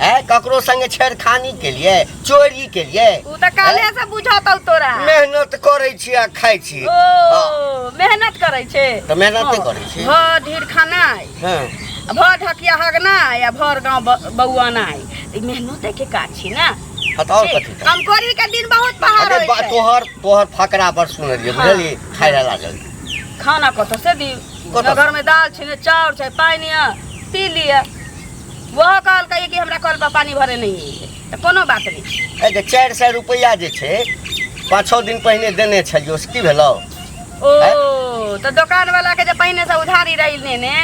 है ककरो संगे छेड़खानी के लिए चोरी के लिए उ त काले से बुझतौ तोरा मेहनत करे छी आ खाय छी ओ मेहनत करै छै त मेहनत नहि करै छी भ ढीर खानाइ हाँ आ भ ढकिया हगनाइ आ भर गाँव ब- बौआनाइ त ई मेहनते के काज छी ना हाँ, त और कथी त? कमकोरी के दिन बहुत पहाड़ अरे होइ बा- छै तोहर तोहर फकरा पर सुन लिए हाँ। बुझली खाय ला लागल खाना कतऽ से दी कतऽ? घर में दाल छै ने चाउर छै पानि है पी लिअ वह कहलकै कि हमरा कल पर पानी भरे नहीं है तो कोनो बात नहीं ए जे चारि सए रुपैआ जे छै पाँच छओ दिन पहिने देने छलियो से की भेलौ ओ तो दुकान वाला के जब पहिने से उधारी रही लेने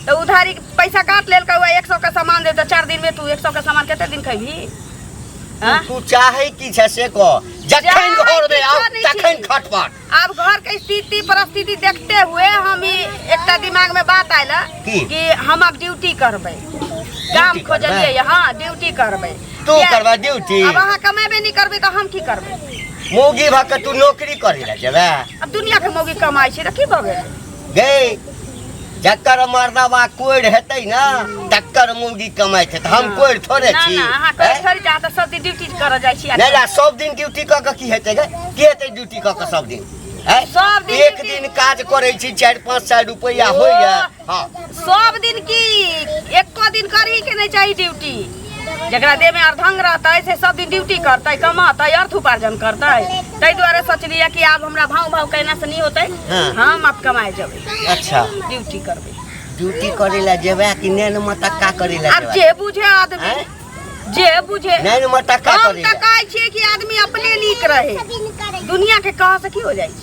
तो उधारी के पैसा काट लेल हुआ एक सौ के सामान दे तो चार दिन में तू एक सौ के सामान कते दिन खेबी तू- तू चाहै की छै से कह जखन चाहै घरमे किछो आउ नहि छी। तखन खटपट अब घर के स्थिति परिस्थिति देखते हुए हम ई एकटा दिमाग में बात आयल की? कि हम अब ड्यूटी करबै काम करबै? खोजलिए हाँ ड्यूटी करबै तू किया- करबा ड्यूटी अब अहाँ कमेबे नहीं करबै तऽ हम की करबै मौगी भऽ कऽ तू नौकरी करै लए जेबे अब दुनिया के मौगी कमाई छै तऽ की भऽ गेल गे जकर मर्दवा कोढ़ हेतै ना तकर मौगी कमाइ छै तऽ हम कोढ़ थोड़े ना छी ना अहाँ करै हैं? थोड़ी जात सब दिन ड्यूटी कर जाइ छी नहि ला सब दिन ड्यूटी कऽ कऽ की हेतै गे की हेतै ड्यूटी कऽ कऽ सब दिन हैं? सब दिन एक duty- दिन काज करै छी चारि पाँच सए रुपैआ होइए हँ सब दिन की एको दिन करही के नहि चाही ड्यूटी जकरा देहमे अर्धंग रहतै से सब दिन ड्यूटी करतै कमतै अर्थ उपार्जन करतै ताहि दुआरे सोचलियै कि आब हमरा भाव भाव कयना से नहि होतै हाँ। हम आब कमाए जेबै अच्छा ड्यूटी करबै ड्यूटी करे ला जेबे कि नैन मटक्का करे ला आब जेबे जे बुझे आदमी हैं? जे बुझे नैन मटक्का हम करे तऽ ला कहै छियै कि आदमी अपने नीक रहै दुनिया के कह से की हो जाइ छै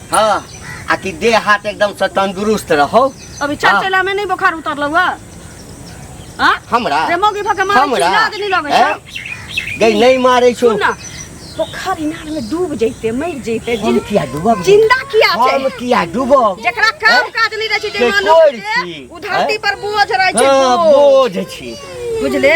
हाँ आ कि देह हाथ एकदम से तंदुरुस्त रहो अभी चल हाँ। चला में नहीं बुखार उतरल हुआ हां हमरा रे मौगी भके मारे हमरा चिल्ला के नहीं लगे हैं? छै गई नहीं मारे छो सुन ना पोखर इनार में डूब जैते मर जैते हम जिन- किया डूबब जिंदा किया हम छै किया डूबब जेकरा काम हैं? काज नहीं रहे छै के जे मानव कोरि के छी, ओ धरती हैं? पर बोझ रहे छै हाँ, बोझ बोझ छी बुझले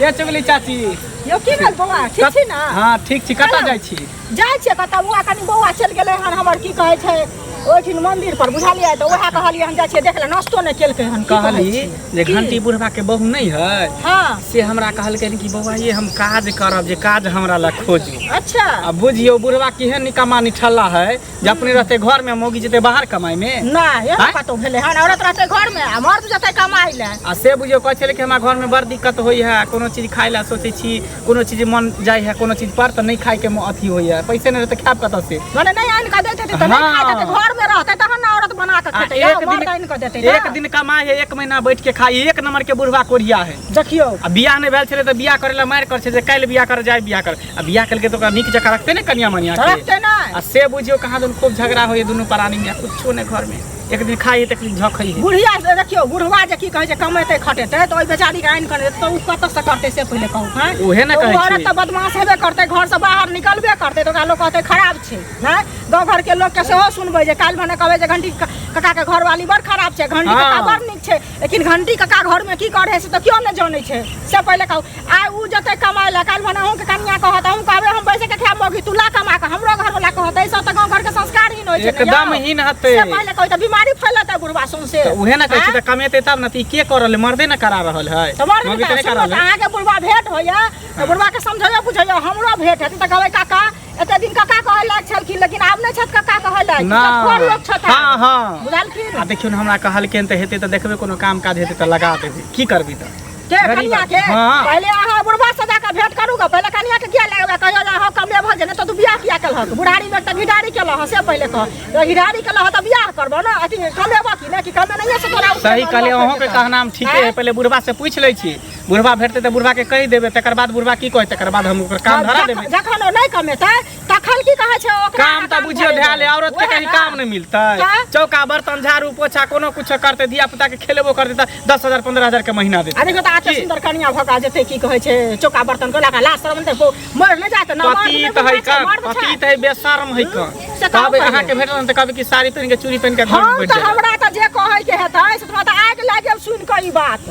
ये चुगली चाची यो की भेल बौआ ठीक छी ने हाँ ठीक छी कतऽ जाइ छी जाइ छियै कतऽ बौआ कनि बौआ चलि गेलै हन हमर की कहै छै ओहिठिन मंदिर पर बुझलियै तऽ उएह कहलियै हम जाइ छियै देख ले नाश्तो नहि केलकै हन की कहै कहली छी? जे की? घंटी बुढ़वा के बहू नहीं है हँ से हमरा कहलकै कि बौआ ये हम काज करब जे काज हमरा लग खोजू अच्छा आ बुझियो बुढ़वा केहन निकम्मा निठल्ला है जे अपने रहते घर में मौगी जेते बाहर कमाई में ना ये आँय? ना कतौ भेले हन औरत रहते घर में आ मर्द जते कमाई ले आ से बुझियो कहै छलै कि हमरा घर में बड़ दिक्कत होइ है कोनो चीज खाय ला सोचै छी कोनो चीज मन जाइ है कोनो चीज पर तऽ नहि खाय के म- अथी होइ है पैसे नहि रहतै खायब कतऽ से माने नहीं आन के देते त नहीं खाई देते घर में रहते तहन ना औरत बना के आ खेते या एक मर्द आन के देते दिन ना। एक दिन कमाई है एक महीना बैठ के खाई एक नंबर के बुढ़वा कोढ़िया है देखियो आ बियाह नहि भेल छलै तऽ बियाह करै लए मारि करै छै जे काल्हि बियाह कर जाय बियाह कर अब बियाह करके तो ओकरा नीक जकाँ रखते ने कनिया मनिया के रखते ना आ से बुझियो कहाँ दुन खूब झगड़ा होइए दुनू प्राणी में कुछो ने घर में एक दिन खाइए तो एक दिन झखई है बुढ़िया से देखियो बुढ़वा जे की कहै छै कमेतै खटेतै तऽ ओहि बेचारी के आनि कऽ देतै तऽ ओ कतऽ से करतै से पहिले कहू हैं उहे ने तऽ कहै ओ औरत छी। तऽ बदमाश हेबे करतै घर से बाहर निकलबे करतै तऽ ओकरा लोक कहतै खराब छै हैं गाँव घर के लोक के सेहो सुनबै जे काल्हि भने कहबै जे घंटी कका के घरवाली बड़ खराब छै घंटी हँ। कका बड़ नीक छै लेकिन घंटी कका घर में की करे से तो क्यों न जाने छे से पहले कहू आय उ जते कमाए ला काल भना के कनिया कहत हम कहबे हम बैसे के खाए मगी तू ला कमा के हमरो घर वाला कहत ऐसा तो गांव घर के संस्कार ही न होय छे एकदम हीन हते से पहले कहू त बीमारी फैलता बुढ़वा सुन से तो उहे ना कहै छी त कमेते तब न त ई के करल मर्दे न करा रहल है तो मर्द मर्दे के करा रहल है। अहाँ के बुढ़वा भेंट होइया तो बुढ़वा के समझैया बुझैया हमरो भेंट हेतै त कहबै काका एते दिन कका कहै लायक छलखिन लेकिन आब नहि छथि कका कहै लायक ना। सब खोर लोग छथि आब। हाँ हाँ बुझलखिन आ देखियो ने हमरा कहलखिन तऽ हेतै तऽ देखबै कोनो काम काज हेतै तऽ लगा देबै की करबै तऽ के गरीब कनिया के आदमी। हाँ। पहिले अहाँ बुढ़वा से जाके भेंट करू गे पहिले कनिया के किया लगबे कहियो जे अहाँ कमले भऽ जेने तऽ तू बियाह किया केलहक बुढ़ारी में तऽ घिडारी केलह से पहिले कह तो घिडारी केलह तऽ बियाह करबो ना अथी कमेबो कि ना कि कमे नहिए से तोरा सही कहलियै अहूँके कहनाम ठीके है पहिले बुढ़वा से पूछि लै छी बुढ़वा भेटतै तऽ बुढ़वा के कहि देबै तकर बाद बुढ़वा की कहै तकर बाद हम ओकर काम धरा देबै जखन ओ नहि कमेतै तखन की कहै छै ओकरा काम तऽ बुझियो धरा ले औरत के कहीं काम नहि मिलतै चौका बर्तन झाड़ू पोछा कोनो कुछ करते धिया पुता के खेलेबो करते तऽ दस हजार पंद्रह हजार के महीना देतै अरे तऽ आते सुंदर कनिया भका जेते की कहै छै चौका बर्तन को लगा लास्ट शर्म तऽ मर नहि जात ना पति तऽ है का पति तऽ है बेशर्म है का कहबै अहाँ के भेटल तऽ कहबै कि साड़ी पहिन के चूड़ी पहिन के घर में बैठ जाए हमरा तऽ जे कहै के हेतै से तऽ आग लागे सुन के ई बात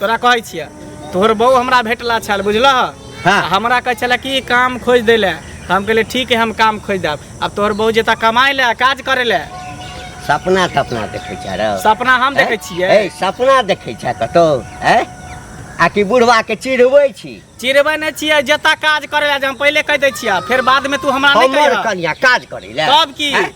तोरा कहै छियै तोहर बहू हमरा भेटला छल बुझलह हाँ। आ हमरा कहै छलै कि काम खोज दै लए तऽ हम कहलियै ठीक है हम काम खोज देब आब तोहर बहू जेता कमाइ लए काज करै लए सपना तपना देखै छै रौ सपना हम देखै छियै ए, सपना देखै छै कतौ ए आ कि बुढ़वा के चिढ़बै छी चिरबै नहि छियै जेता काज करै लए जे हम पहिले कहि दै छियै फेर बादमे तू हमरा नहि हमर कहियह कनिया काज करै लए तब की? हैं?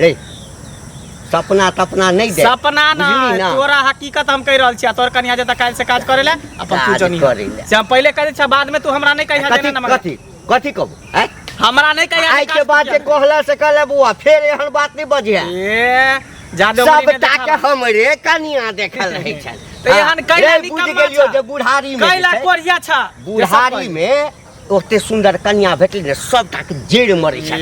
रे सपना तपना नहीं दे सपना ना बुझली ना? तोरा हकीकत हम कह रहल छियै तोर कनिया जे काल से काज करे ले अपन तू काज जनी करे ले। से हम पहले करे छ बाद में तू हमरा नहीं कहिया कथी देना ना मगर कथी कथी कहबो हैं? हमरा नहीं कहिया आइ के बाद जे कहला से कहले बुआ फेर एहन बात नहीं बजे ए जादे सब ताके हमरे कनिया देखल रहे छल तो एहन कैला रे, बुझ निकम्मा गेलियो छा। जे बुढ़ारी में कैला जे छै, कोरिया छ बुढ़ारी में ओते सुंदर कन्या भेटली ने सबटा के जेड़ मरे छै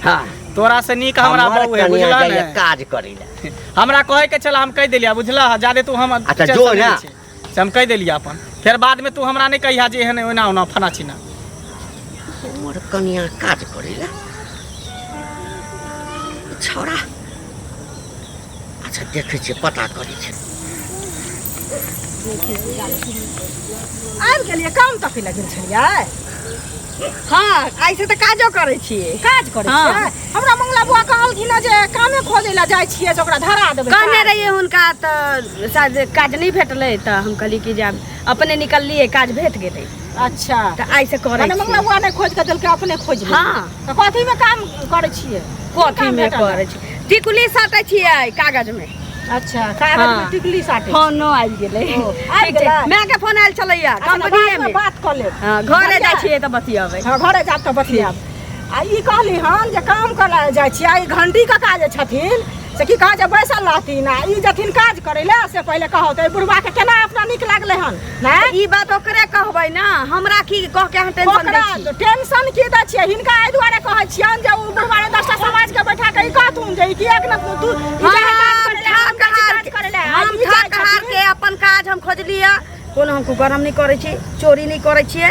हां तोरा से नीक हमरा बहु है बुझला ने काज करै ले हमरा कहे के छला हम कह देलिया बुझला जादे तू हम अच्छा जो ना से हम कह देलिया अपन फिर बाद में तू हमरा नहीं कहिया जे एहन ओना ओना फना छिना हमर कन्या काज करै ले छोरा अच्छा देखै छियै पता करै छै आबि गेलियै काम तक लए गेल छलियै हँ ऐसे तऽ काजो करै छियै काज करै हँ। छियै हमरा मंगला बुआ कहलखिन हँ जे कामे खोजै लए जाइ छियै जे ओकरा धरा देबै कहने काज। रहिए हुनका तऽ शायद काज नहि भेटलै तऽ हम कहली कि जे आब अपने निकललिए काज भेट गेलै अच्छा तऽ आइसँ करै मने मंगला छियै बुआ नहि खोज कऽ देलकै अपने खोज लेलकै। हँ तऽ कथीमे काम करै छियै कथी मे करै छी टिकुली साटै छियै कागज मे अच्छा कागज मे टिकुली साटै फोन आबि गेलै आबि गेलै माय के फोन आयल छलैया अच्छा, कंपनीए मे बात कऽ लेब हँ घरे जाइ छियै तऽ बतियाबै हँ घरे जाब तऽ बतियाब आ ई कहली हन जे काम करै जाइ छियै ई घंटी के काज छथिन से की कहै छै बैसल रहथिन आ ई जथिन काज करै लए से पहिले कहौ तऽ बुढ़बा के केना अपना नीक लागलै हन हैं? ई बात ओकरे कहबै ना हमरा की कह के अहाँ टेंशन ओकरा दै छी टेंशन की दै छियै हिनका एहि दुआरे कहै छियनि जे ओ बुढ़बारे दसटा समाज के बैठा के ई कहथुन जे ई कि एक न तू ई हम जाहे काज करे ले, हम जाहे काज करे ले, आ हम ई जाइ ठाक हार छथिन। के अपन काज हम खोजलियै कोनो हमको गरम नहीं करे छी चोरी नहीं करे छियै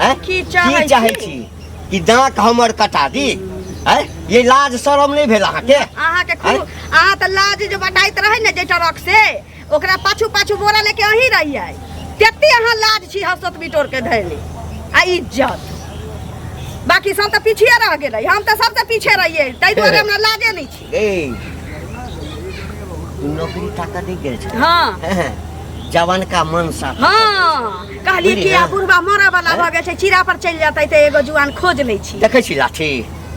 हैं? की की चाहै चाहै छी? छी कि दाँत हमर कटा दी हैं? ये लाज शरम नहीं भेल अहाँके अहाँके खूब अहाँ तऽ लाज जे बटाइत रहै ने जे ट्रक से ओकरा पाछू पाछू बोरा लेके अही रहियै तेते अहाँ लाज छी हसत बिटोर के धैली आ इज्जत बाकी सब तऽ पीछे रह गेलै हम तऽ सबसँ पीछे रहियै ताहि दुआरे हमरा लाजे नहि छी এই नौकरी टाका दे गेल छै हाँ जवान का मन साफ हाँ कहलिए कि बुझलियै? आब बुढ़बा मरऽ वाला भऽ गेल छै चीरा पर चलि जेतै तऽ एगो जुआन खोज लै छी देखै छी लाठी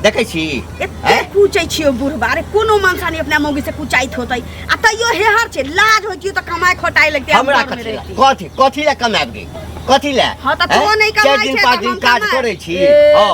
देखै छी एते हैं? पूछै छियो बुढ़बा रे कोनो मनसानी अपना मौगी से कुचाइत होतै आ तैयो हेहर छै लाज होइतियो तऽ कमाइ खोटाइ लगतै हम हमरा घर मे कथी लए रहितै। कथी कथी लए कमाएब गे कथी लए हाँ, तऽ हैं? तों नहि कमाइ चारि दिन छै, पाँच तऽ दिन हम काज कमाएब। करै छी ए। हँ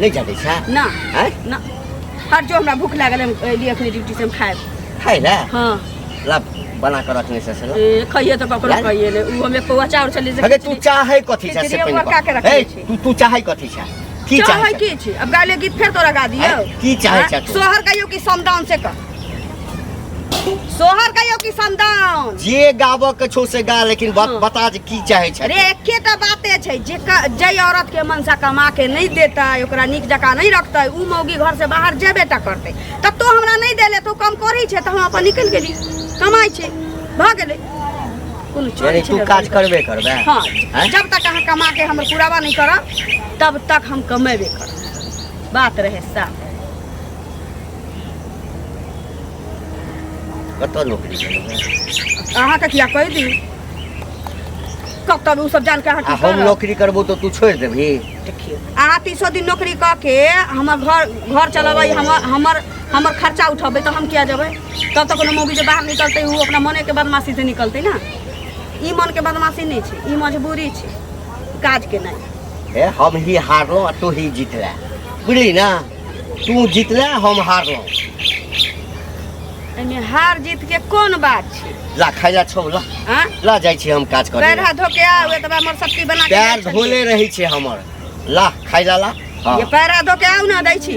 नहि जानै छै ना आँय ना हट जो हमरा भूख लागल हम अयली अखनी ड्यूटी से हम खाएब खाइ लए हाँ ला बना कर रखने से सला ए, कहिए तो ककरो लाल? कहिए ले उ हमें पौआ चाउर चली से अगे तू चाहे कथी छै से खिचड़ी पहिने पका के बता। रखने ए, छी। तू तू चाहे कथी छै की चाहे चाहे छै? की छी अब गाले गीत फेर तोरा गा दियो आँय, की चाहे आँय, छै तू? सोहर कहियो कि समदान से कह सोहर कहियो कि संदान जे गाबऽ के छौ से गा लेकिन बात हँ। बता जे की चाहे छै अरे एके टा बाते छै जे क- जै औरत के मनसा कमा के नहीं देता ओकरा नीक जकाँ नहीं रखते उ मौगी घर से बाहर जेबे टा करते तब तो हमरा नहीं देले तो कम करी छै तो हम अपन निकल गेली कमाई छै भ गेले कोनो चोरी यानी छै तू काज करबे करबे हाँ हैं? जब तक अहाँ कमा के हमर पुरावा नहीं करब तब तक हम कमेबे करब बात रहे साफ कतऽ नौकरी करबै अहाँके किया कहि दी कब तब ओ सब जान के अहाँ आ की हम करब? नौकरी करबो तऽ तू छोड़ि देबही देखियौ अहाँ तीसो दिन नौकरी कऽ के हमर घर घर चलबै हमर हमर हमर खर्चा उठबै तऽ हम किया जेबै तब तऽ कोनो मौगी जे बाहर निकलतै ओ अपना मने के बदमाशी से निकलतै ना ई मन के बदमाशी नहि छै ई मजबूरी छै काज के नहि हे हम ही हारलहुँ आ तू ही जीतले बुझली ने तू जीतले हम हारलहुँ एहिमे हार जीत के कोन बात छै ला खाइ ला छौ ला हाँ? ला जाइ छी हम काज पैर करे हाथ धो के आउ एतबा हमर शक्ति बना के पैर दै छलियै। धोले रहै छै हमर ला खाइ ला ला हाँ। ये पैर हाथ धो के आउ ना दै छी